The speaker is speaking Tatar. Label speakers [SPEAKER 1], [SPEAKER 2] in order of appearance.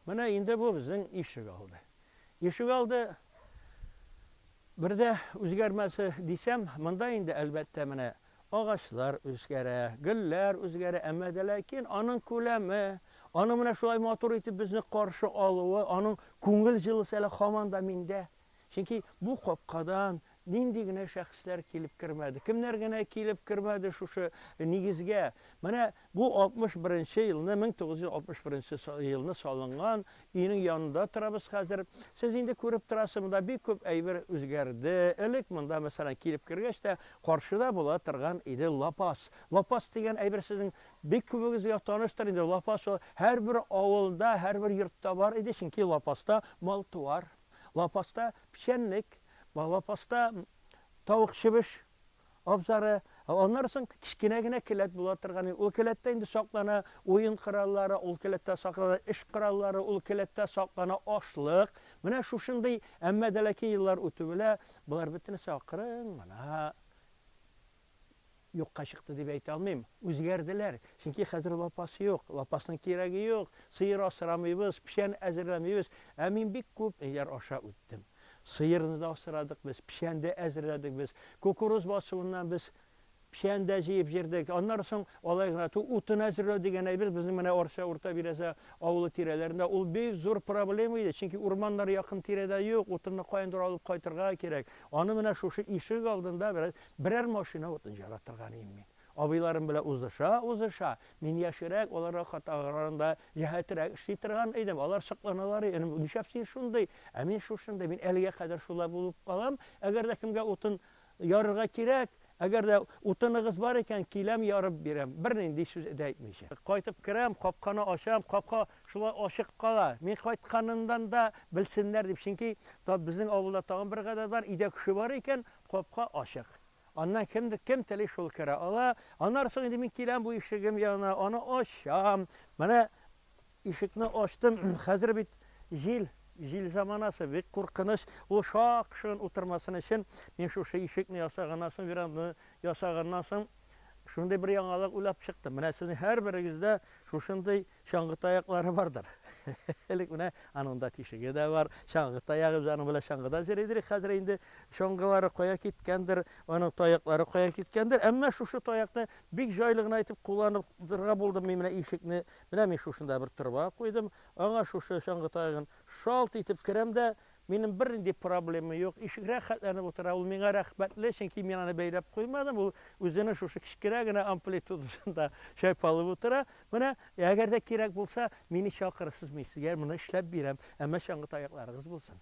[SPEAKER 1] Менә инде бу безнең ишек алды. Ишек алды бер дә үзгәрмәсе дисәм, монда инде әлбәттә менә агачлар үзгәрә, гөлләр үзгәрә, әмма дә ләкин аның күләме, аның менә шулай матур итеп безне каршы алуы, аның күңел җылысы әле һаман да миндә Чөнки бу капкадан нинди генә шәхесләр килеп кермәде, кемнәр генә килеп кермәде шушы нигезгә. Менә бу 61 нче елны, 1961 елны салынган өйнең янында торабыз хәзер. Сез инде күреп торасыз, монда бик күп әйбер үзгәрде. Элек монда, мәсәлән, килеп кергәч тә, каршыда була торган иде лапас. Лапас дигән әйбер сезнең бик күбегезгә таныштыр инде. Лапас ул һәрбер авылда, һәрбер йортта бар иде, чөнки лапаста мал-туар Лапаста печәнлек, лапаста тавык чебеш абзары, аннары соң кечкенә генә келәт була торган. Ул келәттә инде саклана уен кораллары, ул келәттә саклана эш кораллары, ул келәттә саклана ашлык. Менә шушындый, әмма дә ләкин еллар үтү белән болар бөтенесе акрын гына юкка чыкты дип әйтә алмыйм. Үзгәрделәр. Чөнки хәзер лапас юк. Лапасның кирәге юк. Сыер асрамыйбыз, печән әзерләмибез. Ә мин бик күп ниләр аша үттем. Сыерны да асрадык без, печән дә әзерләдек без. Кукуруз басуыннан без печән дә җыеп җөрдек. Аннары соң алай гына тү, утын әзерләү дигән әйбер безнең менә Арча, Урта Бирәзә авылы тирәләрендә ул бик зур проблема иде. Чөнки урманнар якын тирәдә юк, утынны каяндыр алып кайтырга кирәк. Аны менә шушы ишек алдында бераз Берәр машина утын җара торган ием мин. Абыйларым белән узыша-узыша, мин яшьрәк, аларга катаграганда җәһәтерәк эшли торган идем. Алар сокланалар иде, Энем, нишләп син шундый? Ә мин шушындый, мин әлегә кадәр шулай булып калам. Әгәр дә кемгә утын ярырга кирәк, әгәр дә утыныгыз бар икән, киләм, ярып бирәм, бернинди сүз дә әйтмичә. Кайтып керәм, капканы ачам, капка шулай ачык кала. Мин кайтканымнан да белсеннәр дип, чөнки безнең авылда тагын бер гадәт бар, өйдә кеше бар икән, Капка ачык. Аннан кемдер, кем тели шул керә ала. Аннары соң инде мин киләм бу ишегем янына, аны ачам. Менә ишекне ачтым, хәзер бит җил, җил заманасы, бик куркыныч. Ул шак-шыгын утырмасын өчен, мин шушы ишекне ясаганнан соң, веранданы ясаганнан соң, шундый бер яңалык уйлап чыктым. Менә сезнең һәрберегездә шушындый Чаңгы таяклары бардыр. Элек менә аның да тишеге дә бар. Чаңгы таягы, без аның белән чаңгыда җыйрый идек. Хәзер инде чаңгылары кая киткәндер, аның таяклары кая киткәндер. Әмма шушы таякны бик җайлы гына итеп кулланып торырга булдым мин менә ишекне. Менә мин шушында бер торба куйдым. Аңа шушы чаңгы таягын шалт итеп керәм дә, Минем бернинди проблемам юк, ишек рәхәтләнеп утыра, ул миңа рәхмәтле, чөнки мин аны бәйләп куймадым, ул үзенең шушы кечкенә генә амплитудасында чайпалып утыра. Менә, әгәр дә кирәк булса, мине чакырырсыз, мин сезгә моны эшләп бирәм, әмма чаңгы таякларыгыз булсын.